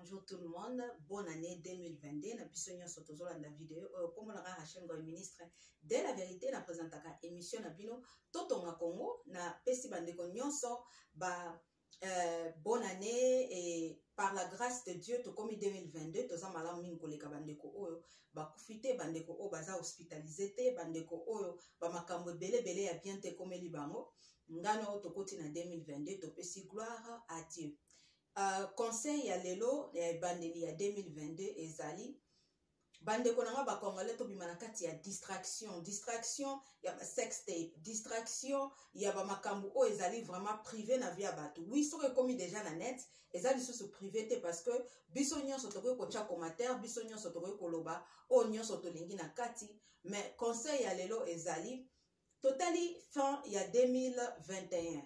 Bonjour tout le monde, bonne année 2022 na biso nyonso tozolanda video oyo euh, kombo na nga Rachel Ngoy ministre de la vérité na présentaka émission na bino totonga Congo na pesi bandeko nyonso ba euh, bonne année et par la grâce de Dieu tokomi 2022 toza malamu mingi koleka bandeko oyo bakufi te bandeko oyo baza hospitalisé te bandeko oyo bamakambo ebele ebele ya bien te ekomeli bango ngano tokoti na 2022 topesi gloire à Dieu Uh, conseil ya lelo ya ebandeli ya 2022 ezali bandeko na ngai bacongolais tobima na kati ya distraction distraction ya basextape distraction ya bamakambo oyo ezali vraiment privé na vie ya bato wi soki ekomi déjà na net eza lisusu privé te parce que biso nyonso tokoki kotya commentaire biso nyonso tokoki koloba oyo nyonso tolingi na kati mais conseil ya lelo ezali totali fin ya 2021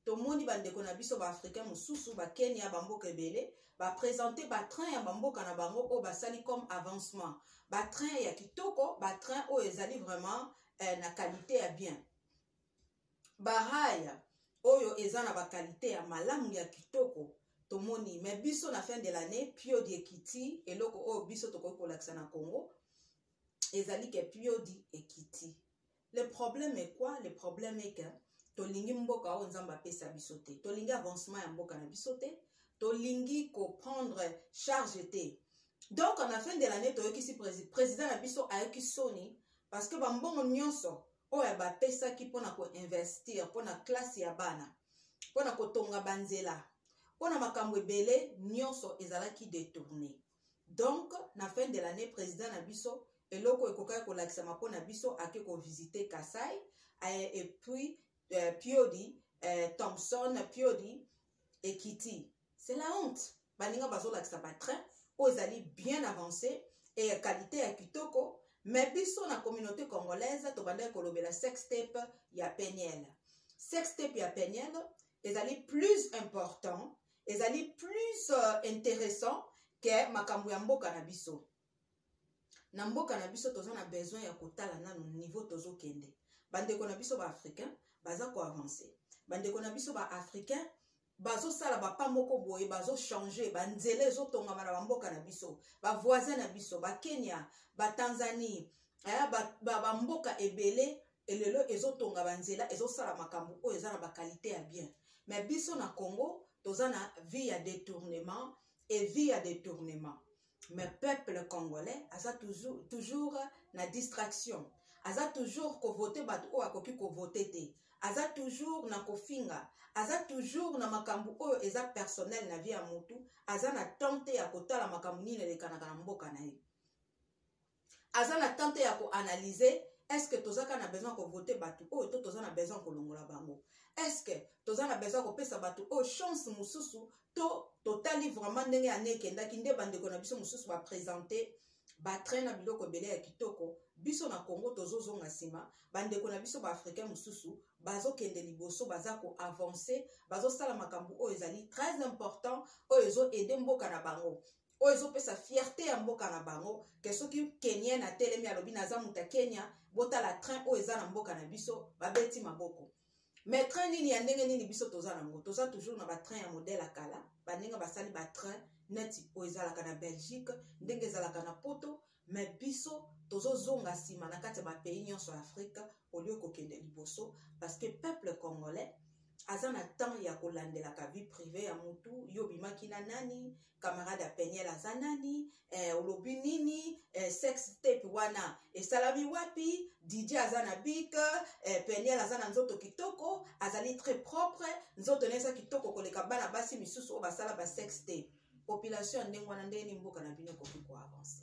tomoni bandeko na biso baafricain mosusu bakenya bamboka ebele bapresente batrain ya bamboka na bango oyo basali comme avancement batrain ya kitoko batrain oyo ezali vraiment eh, na kalite ya bien baraya oyo eza na bakalite ya malamu ya kitoko tomoni me biso na fin de l'année pio diekiti eloko oyo biso tokoki kolakisa na congo ezali ke piodi ekiti le problème est quoi le problème est que tolingi mboka oyo nzambe apesa biso te tolingi avancement ya mboka na biso te tolingi koprendre charge te donc na fin de l'année toyokisi président na biso ayoki soni parce que bambongo nyonso oyo bapesaki mpona koinvestir mpona classe ya bana mpona kotonga banzela mpona makambo ebele nyonso ezalaki detourne donc na fin de l'année président na biso eloko ekokaki kolakisama mpo na biso ake kovisite kasai eh, et puis euh, piodi euh, thompson piodi ekiti c'est la honte baninga bazolakisa batrain oyo ezali bien avancé e ya qualité ya kitoko me biso na communauté congolaise tobandaki kolobela sextape ya peniel sextape ya peniel ezali plus important ezali plus uh, intéressant ke makambo ya mboka na biso na mboka na biso toza na besoin ya kotala nano niveau tozokende bandeko na biso baafricain baza koavance bandeko na biso baafricain bazosala bapa moko boye bazochange banzela ezotongama na bamboka na biso bavoisin na biso bakenya batanzanie eh, bamboka ba, ba ebele e lelo ezotonga banzela ezosala makambo oyo eza na bakalite ya bien me biso na congo toza na vie ya détournement e vie ya détournement me peuple congolais aza toujours, toujours na distraction aza toujours kovote bato oyo akoki kovote te aza toujours na kofinga aza toujours na makambo oyo eza personnel na vie ya motu aza na temps te ya kotala makambo nini elekanaka na mboka na ye aza na temps te ya koanalyse estce toza kaka na besoin ya kovote bato oyo to toza na besoin ya kolongola bango estce toza na besoin ya kopesa bato oyo chance mosusu to totali vraiment ndenge ane ekendaki nde bandeko na biso mosusu bapresente batrain na biloko ebele ya kitoko biso na congo tozozonga nsima bandeko na biso baafricain mosusu bazokende liboso baza koavanse bazosala makambo oyo ezali très important oyo ezoede mboka na bango oyo ezopesa fierte ya mboka na bango ke soki kenien atelemi alobi naza moto ya kenya botala train oyo eza na mboka na biso babeti maboko mais train nini ya ndenge nini biso toza nango toza toujours na batrain ya modele ya kala baninga basali batrain neti oyo ezalaka na belgique ndenge ezalaka na poto me biso tozozonga nsima na kati ya bapays nyonso ya afrika olio kokende liboso parce que peuple congolais aza na temps ya kolandelaka vie privé ya mutu yo obimaki na nani camarade ya peniel aza nani eh, olobi nini eh, sex tape wana esalami wapi dj aza na bik eh, peniel aza na nzoto kitoko azali très propre nzoto na eza kitoko koleka bana basi misusu oyo basala ba sex tape population ya ndenge wana ndenge nini mboka na bino ekoki koavance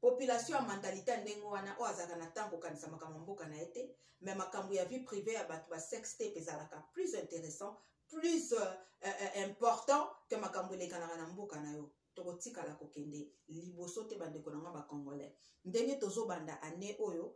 population ya mentalite ya ndenge wana oyo azalaka na ntango kokanisa makambo ya mboka na ye te me makambo ya vie privé ya bato ba sex tape ezalaka plus intéressant plus euh, euh, euh important ke makambo elekanaka na mboka na yo tokotikala kokende liboso te bandeko na nga bacongolais ndenge tozobanda année oyo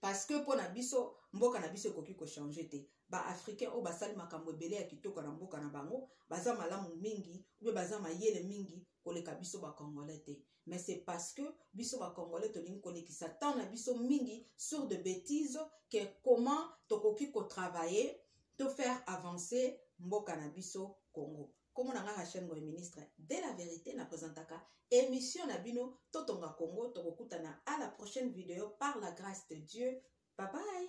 parce que mpo na biso mboka na biso ekoki kochange te baafricain oyo basali makambo ebele ya kitoko na mboka na bango baza malamu mingi mpe baza mayele mingi koleka biso bacongolais te mais c'est parce que biso bacongolais tolingi kolekisa temps na biso mingi sur de bétise que comment tokoki kotravailler to faire avancer mboka na biso congo kombo na nga rachel ngoy ministre de la verité na présentaka émission na bino totonga congo tokokutana à la prochaine vidéo par la grâce de dieu bye bye